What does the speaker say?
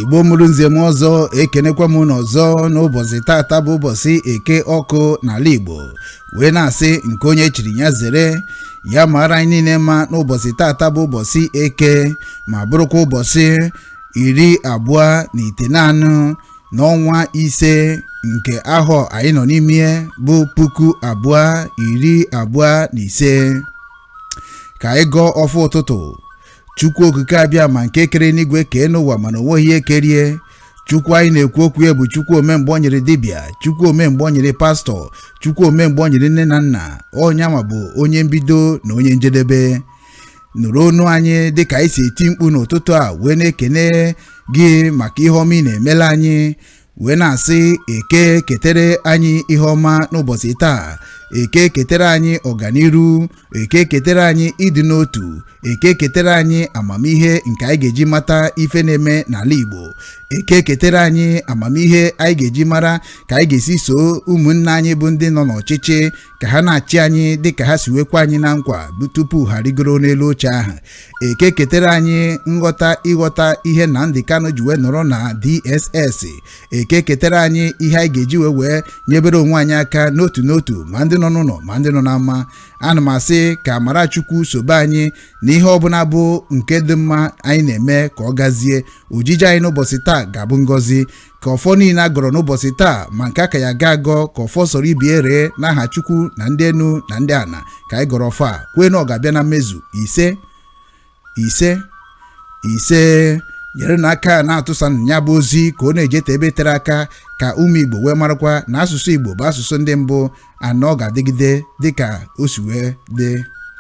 igbo mụrụ nze mụọ ọzọ ekenekwa m unu ọzọ n'ụbọchị tata bụ ụbọchị eke ọkụ n'ala igbo wee na-asị nke onye chiri ya zere ya mara anyị niile mma n'ụbọchị tata bụ ụbọchị eke ma bụrụkwa ụbọchị iri abụọ na ite naanụ n'ọnwa ise nke ahọ anyị nọ n'ime bụ puku abụọ iri abụọ na ise ka anyị gọọ ọfọ ụtụtụ chukwu okike abịama nke kere enuigwe kee enu ụwa mana o nweghị ihe kere ya chukwu anyị na-ekwu okwu ya bụ chukwu ome mgbe ọ nyịrị dibịa chukwu ome mgbe ọ nyịrị pastor chukwu ome mgbe ọ nyịrị nne na nna onye ama bụ onye mbido na onye njedebe nụrụ onu anyị dịka anyị si eti mkpu n'ụtụtụ a wee na-ekene gị maka ihe ọma ị na-emela anyị wee na-asị eke ketere anyị ihe ọma n'ụbọchị taa eke ketere anyị ọganiru eke ketere anyị ịdị n'otu eke ketere anyị amamihe nke anyị ga-eji mata ife na-eme n'ala Igbo eke ketere anyị amamihe anyị ga-eji mara ka anyị ga-esi soo ụmụnna anyị bụ ndị nọ n'ọchịchị ka ha na-achị anyị dị ka ha si wee kwe anyị na nkwa tupu ha rigoro n'elu oche ahụ eke ketere anyị nghọta ịghọta ihe Nnamdi Kanu ji wee nọrọ na DSS eke ketere anyị ihe anyị ga-eji wee wee nyebere onwe anyị aka n'otu n'otu ma ndị nọ n'ụlọ ma ndị nọ n'ama ana m asị ka amara chukwu sobe anyị na ihe ọbụla bụ nke dị mma anyị na-eme ka ọ gazie ojije anyị n'ụbọchị taa ga-abụ ngọzi ka ọfọ niile a gọrọ n'ụbọchị taa ma nke a ka ya-aga agọ ka ọfọ soro ibe ya ree n'aha chukwu na ndị enu na ndị ana ka anyị gọrọ ọfọ a kwee na ọ ga-abịa na mmezu ise ise ise nyerenụ aka na-atụsa ya bụ ozi ka ọ na-ejete ebe tere aka ka ụmụ igbo wee marakwa na asụsụ igbo bụ asụsụ ndị mbụ na ọ ga-adịgide dịka o si wee dị